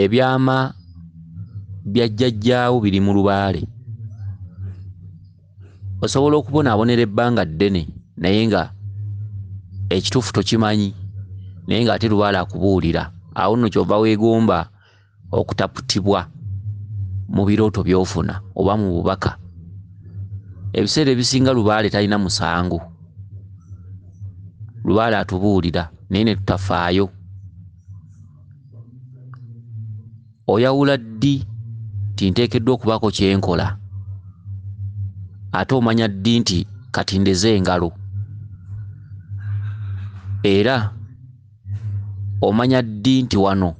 ebyama bya jjajjaawo biri mu lubaale osobola okubonaabonera ebbanga ddene naye nga ekituufu tokimanyi naye ng'ate lubaale akubuulira awo nno kyova weegomba okutaputibwa mu birooto by'ofuna oba mu bubaka ebiseera ebisinga lubaale talina musango lubaale atubuulira naye ne tutafaayo oyawula ddi nti nteekeddwa okubaako kye nkola ate omanya ddi nti kati ndeze engalo era omanya ddi nti wano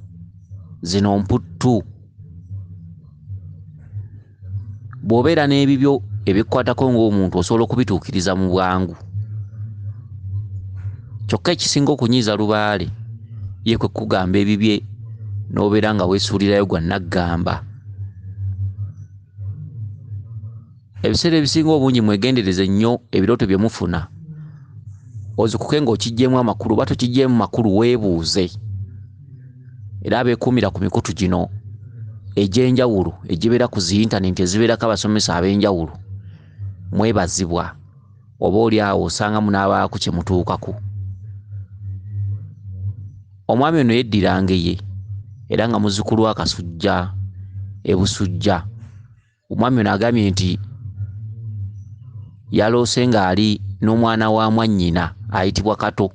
zino mputtu bw'obeera n'ebibyo ebikukwatako ng'omuntu osobola okubituukiriza mu bwangu kyokka ekisinga okunyiiza lubaale ye kwe kukugamba ebibye n'obeera nga weesuulirayo gwa naggamba ebiseera ebisinga obungi mwegendereze nnyo ebirooto bye mufuna ozukuke ng'okiggyeemu amakulu oba tokiggyeemu makulu weebuuze era abeekuumira ku mikutu gino egy'enjawulo egibeera ku zi yintanenti ezibeerako abasomesa ab'enjawulo mwebazibwa oba oli awo osanga munaabaako kye mutuukako omwami ono yeddirangeye era nga muzzukulu wa kasujja ebusujja omwami ono agambye nti yaloose ng'ali n'omwana wa mwannyina ayitibwa kato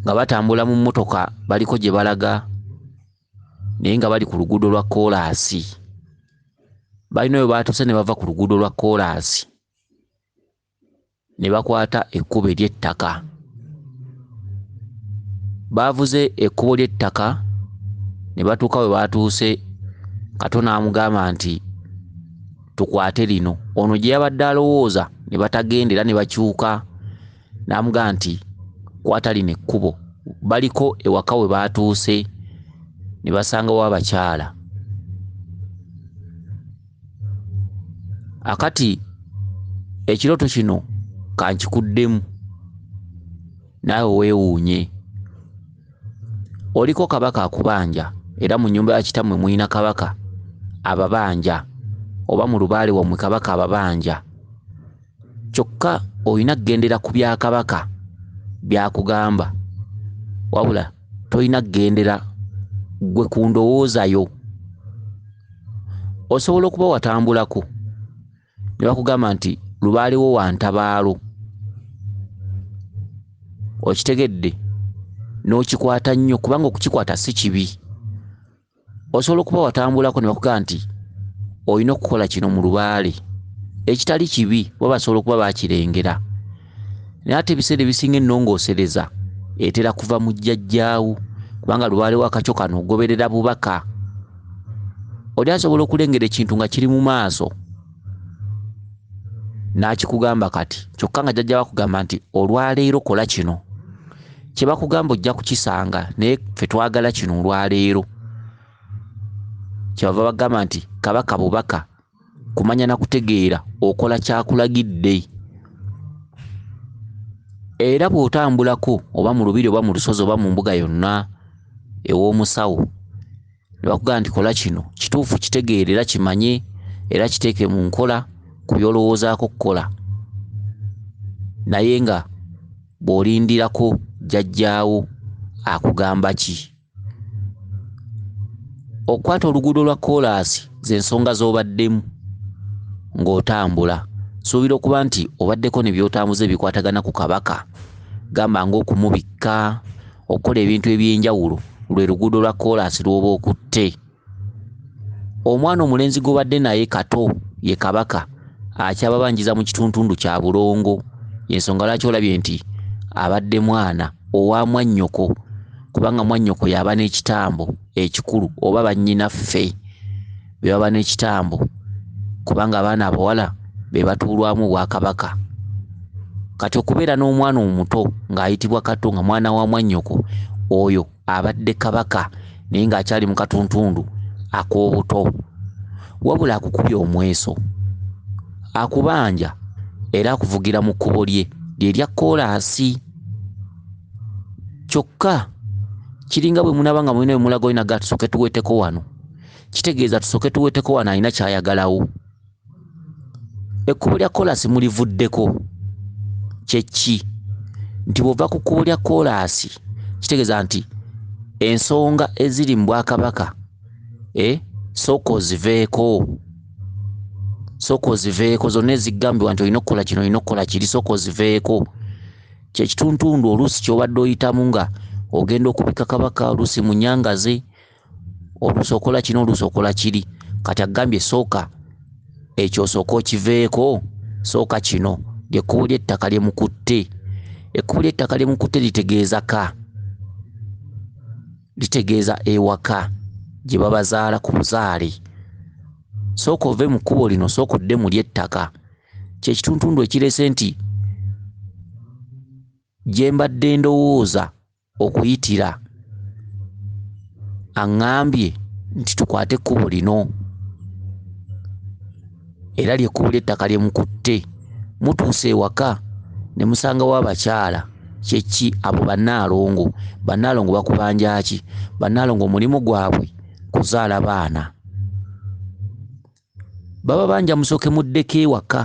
nga batambula mu mmotoka baliko gye balaga naye nga bali ku luguudo lwa koolaasi balina we baatuuse ne bava ku luguudo lwa koolaasi ne bakwata ekkubo ery'ettaka. Baavuze ekkubo ly'ettaka ne batuuka we baatuuse Kato n'amugamba nti tukwate lino. Ono gye yabadde alowooza ne batagenda era ne bakyuka n'amugamba nti kwata lino ekkubo. Baliko ewaka we baatuuse ne basangawo abakyala. akati ekiroto kino kankikuddemu naawe weewuunye oliko kabaka akubanja era mu nyumba ya kitammwe mulina kabaka ababanja oba mu lubaale wammwe kabaka ababanja kyokka olina kugendera ku bya kabaka byakugamba wabula tolina kugendera gwe ku ndowooza yo osobola okuba watambulako ne bakugamba nti lubaaliwo wa ntabaalo okitegedde n'okikwata nnyo kubanga okukikwata si kibi osobola okuba watambulako ne bakugamba nti olina okukola kino mu lubaale ekitali kibi oba basobola okuba bakirengera naye ate ebiseera ebisinga ennongoosereza etera kuva mu jjajjaawo kubanga lubaale wakakyo kano ogoberera bubaka oli asobola okulengera ekintu nga kiri mu maaso n'akikugamba kati kyokka nga jjajja wakugamba nti olwaleero kola kino kyebakugamba ojja kukisanga naye fe twagala kino olwaleero kyebava bagamba nti kabaka bubaka kumanya na kutegeera okola kyakulagidde era bw'otambulako oba mu lubiri oba mu lusozi oba mu mbuga yonna ew'omusawo nebakugamba nti kola kino kituufu kitegeere era kimanye era kiteeke mu nkola ku byolowoozaako okukola naye nga bw'olindirako jjajjaawo akugamba ki okukwata oluguudo lwa koolaasi z'ensonga z'obaddemu ng'otambula suubira okuba nti obaddeko ne by'otambuza ebikwatagana ku kabaka gamba ng'okumubikka okukola ebintu eby'enjawulo lwe luguudo lwa koolaasi lw'oba okutte omwana omulenzi gw'obadde naye kato ye kabaka akyababanjiza mu kituntundu kya bulongo ensonga lwaki olabye nti abadde mwana owa mwannyoko kubanga mwannyoko yaba n'ekitambo ekikulu oba bannyinaffe bebaba n'ekitambo kubanga abaana abawala be batuulwamu obwakabaka kati okubeera n'omwana omuto ng'ayitibwa kato nga mwana wa mwannyoko oyo abadde kabaka naye ng'akyali mu katuntundu ak'obuto wabula akukubye omweso akubanja era akuvugira mu kkubo lye lye lya kkoolaasi kyokka kiringa bwe munaaba nga mulina bwe mulaga olina gaatusooke tuweeteko wano kitegeeza tusooke tuweteko wano alina kyayagalawo ekkubo lya koolaasi mulivuddeko kyekki nti bwova ku kkubo lya koolaasi kitegeeza nti ensonga eziri mu bwakabaka e sooka oziveeko sooka oziveeko zonna ezigambibwa nti olina okukola kino olina okukola kiri sooka oziveeko kyekituntundu oluusi kyobadde oyitamu nga ogenda okubika kabaka oluusi munyangazi olusokola kino olusokola kiri kati agambye sooka ekyo osooka okiveeko sooka kino lyekkubo ly'ettaka lyemukutte ekkubo ly'ettaka lyemukutte litegeeza ka litegeeza ewaka gye babazaala ku buzaale sooka ove mu kkubo lino sooka odde mu ly'ettaka kyekituntundu ekirese nti gye mbadde ndowooza okuyitira aŋŋambye nti tukwate ekkubo lino era lyekkubo ly'ettaka lye mukutte mutuuse ewaka ne musangawo abakyala kye ki abo bannaalongo bannaalongo bakubanja ki bannaalongo omulimu gwabwe kuzaala baana baba banja musooke muddeko ewaka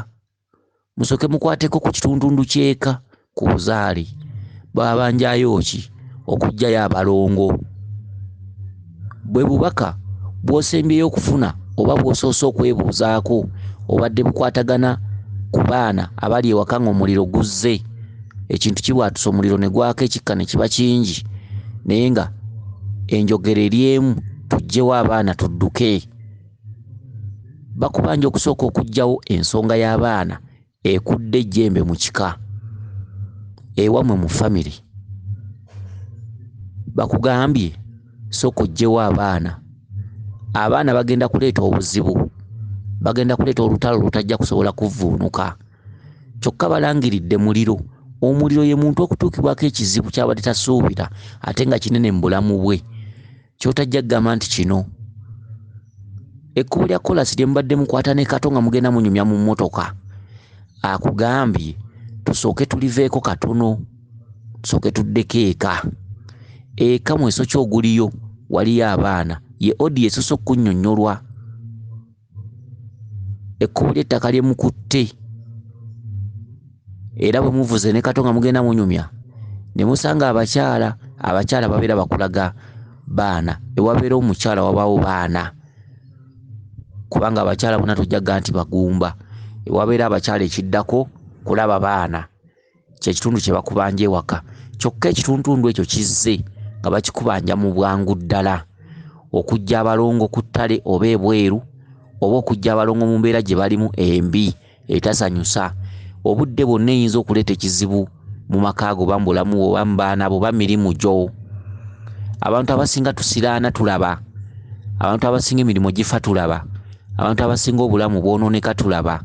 musoke mukwateko ku kitundundu kyeka ku buzaali babanjayo ki okujjayo abalongo bwe bubaka bwosembyeyo okufuna oba bwosoose okwebuuzaako obadde bukwatagana ku baana abali ewaka nga omuliro guzze ekintu kibwatusa omuliro ne gwaka ekikka ne kiba kingi naye nga enjogera eri emu tujjewo abaana tudduke bakubanja okusooka okugyawo ensonga y'abaana ekudde ejjembe mu kika ewamwe mu famire bakugambye sooka ojjewo abaana abaana bagenda kuleeta obuzibu bagenda kuleeta olutalo lutajja kusobola kuvvuunuka kyokka balangiridde muliro omuliro ye muntu okutuukibwako ekizibu kyabadde tasuubira ate nga kinene mu bulamu bwe kyotajja kugamba nti kino ekkubo lya kolasi lye mubadde mukwata ne kato nga mugenda munyumya mu mmotoka akugambye tusooke tuliveeko katono tusooke tuddeko eka eka mweso kyoguliyo waliyo abaana ye odi esosa okunyonyolwa ekkubo ly'ettaka lye mukutte era bwe muvuze ne kato nga mugenda munyumya ne musanga abakyala abakyala babeera bakulaga baana ewabeera omukyala wabaawo baana kubanga abakyala bona tojja ga nti bagumba ewabeera abakyala ekiddako kulaba baana. kyekitundu kye bakubanja ewaka kyokka ekituntundu ekyo kizze nga bakikubanja mu bwangu ddala okujja abalongo ku ttale oba ebweru oba okujja abalongo mu mbeera gye balimu embi etasanyusa obudde bwonna eyinza okuleeta ekizibu mu maka go oba mu bulamu bwo oba mu baana bo oba mirimu gyo abantu abasinga tusiraana tulaba abantu abasinga emirimu gifa tulaba abantu abasinga obulamu bwonooneka tulaba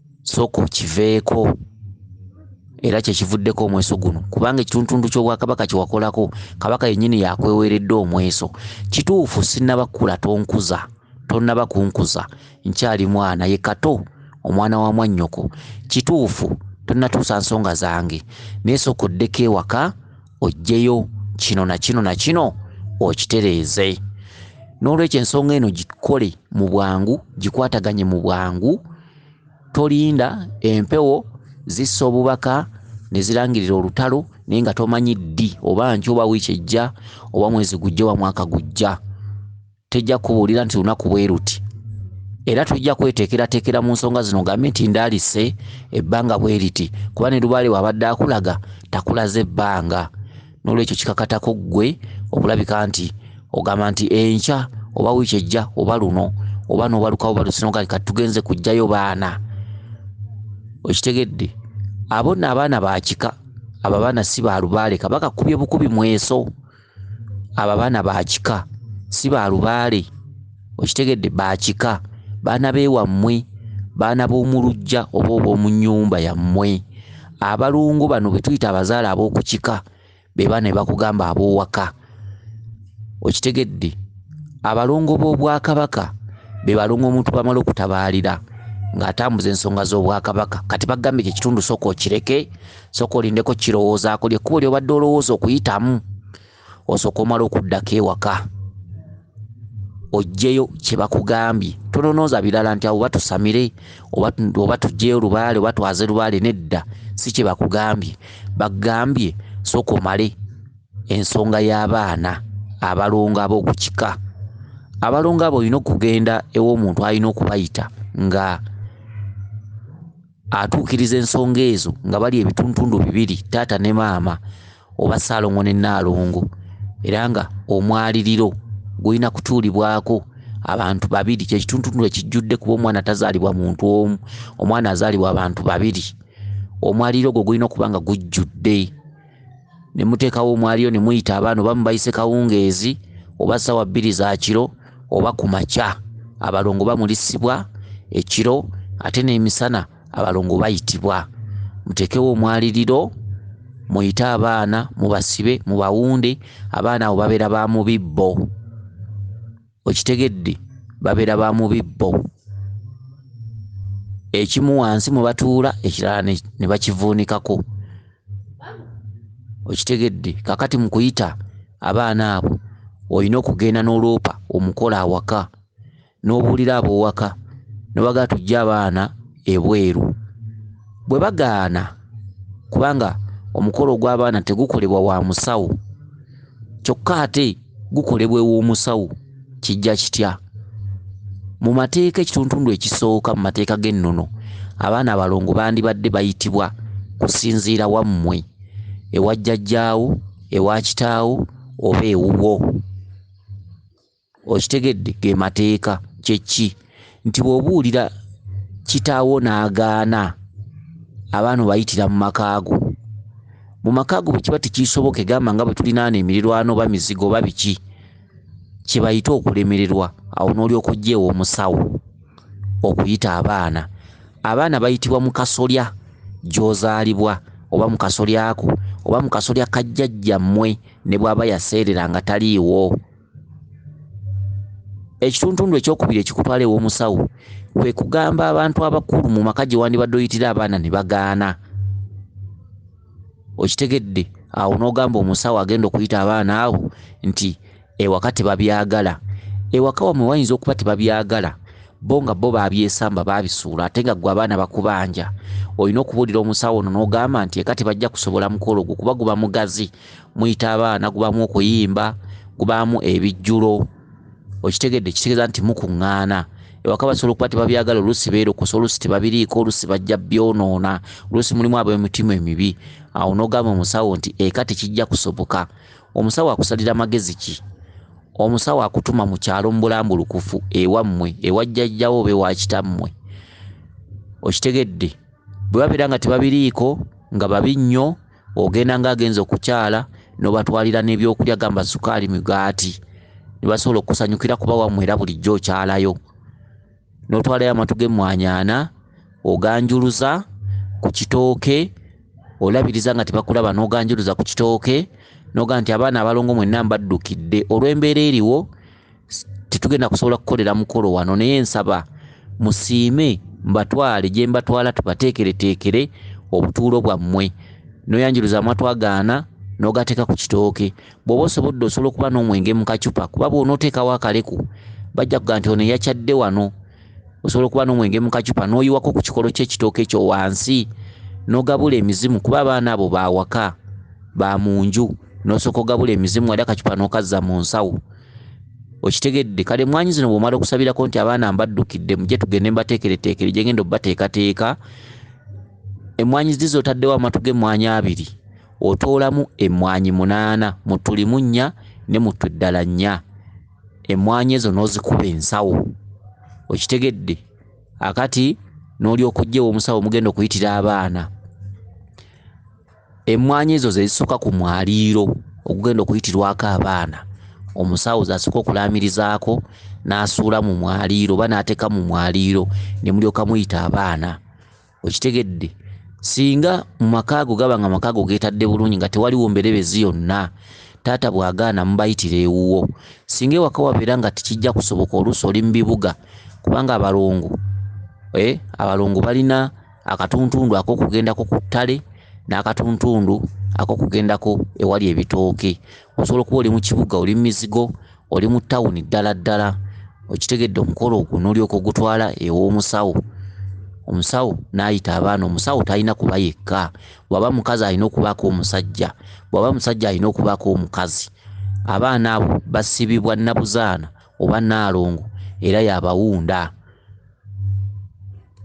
sooka okiveeko era kyekivuddeko omweso guno kubanga ekituntundu ky'obwakabaka kyewakolako kabaka yennyini yakweweeredde omweso kituufu sinnaba kukula tonkuza tonnaba kunkuza nkyali mwana ye kato omwana wa mwannyoko kituufu tonnatuusa nsonga zange naye sooka oddeko ewaka oggyeyo kino na kino na kino okitereeze n'olwekyo ensonga eno gikole mu bwangu gikwataganye mu bwangu tolinda empewo zissa obubaka ne zirangirira olutalo naye nga tomanyi ddi oba nky oba wiiki ejja oba mwezi gujja oba mwaka gujja tejja kubuulira nti lunaku bwe luti era tujja kweteekerateekera mu nsonga zino gambe nti ndaalise ebbanga bwe liti kuba ne lubaale waabadde akulaga takulaze ebbanga n'olwekyo kikakatako ggwe okulabika nti ogamba nti enkya oba wiiki ejja oba luno oba n'obalukawo balusinogali kati tugenze kujjayo baana okitegedde abo nno abaana bakika abo abaana si ba lubaale kabaka kubye bukubi mweso abo abaana bakika si ba lubaale okitegedde bakika baana beewammwe baana b'omu lujja oba ob'omu nnyumba yammwe abalongo bano be tuyita abazaala ab'oku kika be baana be bakugamba ab'owaka okitegedde abalongo b'obwakabaka be balongo omuntu bamala okutabaalira ng'atambuza ensonga z'obwakabaka kati bagambye kye kitundu sooka okireke sooka olindeko kirowoozaako lyekkubo lyobadde olowooza okuyitamu osooka omala okuddako ewaka ojjeyo kyebakugambye tononooza birala nti awo batusamire oba tujjeyo lubaale oba twaze lubaale nedda si kyebakugambye bagambye sooka omale ensonga y'abaana abalongo ab'oku kika abalongo abo olina okugenda ew'omuntu alina okubayita nga atuukiriza ensonga ezo nga bali ebituntundu bibiri taata ne maama oba ssaalongo ne nnaalongo era nga omwaliriro gulina kutuulibwako abantu babiri kyekituntundu ekijjudde kuba omwana tazaalibwa muntu omu omwana azaalibwa abantu babiri omwaliro ogwo gulina okuba nga gujjudde ne muteekawo omwaliyo ne muyita abaana oba mubayise kawungeezi oba ssaawa bbiri za kiro oba ku makya abalongo bamulisibwa ekiro ate n'emisana abalongo bayitibwa muteekewo omwaliriro muyite abaana mubasibe mubawunde abaana abo babeera ba mubibbo okitegedde babeera ba mubibbo ekimu wansi mwe batuula ekirala ne bakivuunikako okitegedde kakati mu kuyita abaana abo olina okugenda n'oloopa omukola awaka n'obuulira aboowaka nobaga tujja abaana ebweru bwe bagaana kubanga omukolo ogw'abaana tegukolebwa wa musawo kyokka ate gukolebwa ew'omusawo kijja kitya mu mateeka ekituntundu ekisooka mu mateeka g'ennono abaana abalongo bandibadde bayitibwa kusinziira wammwe ewa jjajjaawo ewa kitaawo oba ewuwo okitegedde ge mateeka kyeki nti bwobuulira kitaawo n'agaana abaana obayitira mu makaago mu makaago bwe kiba tekiisoboke gamba nga bwe tulinaano emirirwano oba mizigo oba biki kye bayite okulemererwa awo n'olyoka ojjeewo omusawo okuyita abaana abaana bayitibwa mu kasolya gy'ozaalibwa oba mu kasolyako oba mu kasolya kajjajja mmwe ne bw'aba yaseerera nga taliiwo ekituntundu ekyokubiri ekikutwala ew'omusawo kwe kugamba abantu abakulu mu maka gye wandibadde oyitira abaana ne bagaana okitegedde awo n'ogamba omusawo agenda okuyita abaana abo nti ewaka tebabyagala ewaka wamwe wayinza okuba tebabyagala bo nga bo babyesamba babisuula ate nga gwe abaana bakubanja olina okubuulira omusawo ono n'ogamba nti eka tebajja kusobola mukolo ogwo kuba guba mugazi muyita abaana gubaamu okuyimba gubaamu ebijjulo okitegedde kitegeeza nti mukuŋŋaana ewaka basobola okuba tebabyagala oluusi beerokosa oluusi tebabiriiko oluusi bajja byonoona oluusi mulimu ab'emitima emibi awo n'ogamba omusawo nti eka tekijja kusoboka omusawo akusalira magezi ki omusawo akutuma mu kyalo mu bulambulukufu ewammwe ewajjajjawo oba ewakitammwe okitegedde bwe babeera nga tebabiriiko nga babi nnyo ogenda nga agenze okukyala nobatwalira nebyokulya gamba sukaali migaati nebasobola okusanyukira kuba wamwe era bulijjo okyalayo notwalayo amatu gemwanyaana oganjuluza ku kitooke olabiriza nga tebakulaba noganjuluza ku kitooke noga nti abaana abalongo mwenna mbaddukidde olwembeera eriwo tetugenda kusobola kukolera mukolo wano naye nsaba musiime mbatwale gye mbatwala tubateekereteekere obutuulo bwammwe noyanjiruza amatwagaana nogateeka ku kitooke bw'oba osobodde osobola okuba n'omwenge mu kacupa kuba bw'onooteekawo akaleku bajja kuga nti ono eyakyadde wano osobola okuba n'omwenge mu kacupa n'oyiwako ku kikolo ky'ekitooke kyo wansi n'ogabula emizimu kuba abaana abo bawaka ba mu nju n'osooka ogabula emizimu wali akacupa n'okazza mu nsawo okitegedde kale emwanyi zino bwomala okusabirako nti abaana mbaddukidde muje tugende mbateekereteekere gyengenda obubateekateeka emwanyi zi zotaddewo amatu gemwanyi abiri otoolamu emwanyi munaana mutulimu nnya ne mutu eddala nnya emwanyi ezo n'ozikuba ensawo okitegedde akati n'olyokujja ewomusawo mugenda okuyitira abaana Emmwanyi ezo ze zisooka ku mwaliiro ogugenda okuyitirwako abaana omusawo z'asooka okulaamirizaako n'asuula mu mwaliiro oba n'ateeka mu mwaliiro ne mulyoka muyita abaana okitegedde singa mu maka ago gaba nga maka ago geetadde bulungi nga tewaliwo mberebezi yonna taata bw'agaana mubayitira ewuwo singa ewaka wabeera nga tekijja kusoboka oluusi oli mu bibuga kubanga abalongo eh, abalongo balina akatuntundu ak'okugendako ku ttale n'akatuntundu ak'okugendako ewali ebitooke osobola okuba oli mu kibuga oli mu mizigo oli mu tawuni ddala ddala okitegedde omukolo ogwo n'olyoka ogutwala ew'omusawo omusawo n'ayita abaana omusawo talina kuba yekka bw'aba mukazi alina okubaako omusajja bw'aba musajja alina okubaako omukazi abaana abo basibibwa nnabuzaana oba naalongo era yabawunda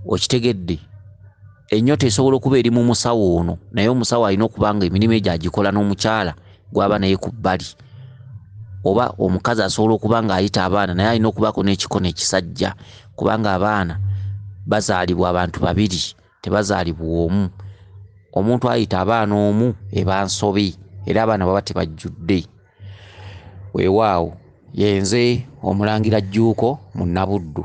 okitegedde enyota esobola okuba eri mu musawo ono naye omusawo alina okuba nga emirimu egyo agikola n'omukyala gwaba naye ku bbali oba omukazi asobola okuba ng'ayita abaana naye alina okubaako n'ekikono ekisajja kubanga abaana bazaalibwa abantu babiri tebazaalibwa omu omuntu ayita abaana omu eba nsobi era abaana baba tebajjudde weewaawo yenze omulangira jjuuko mu nabuddu.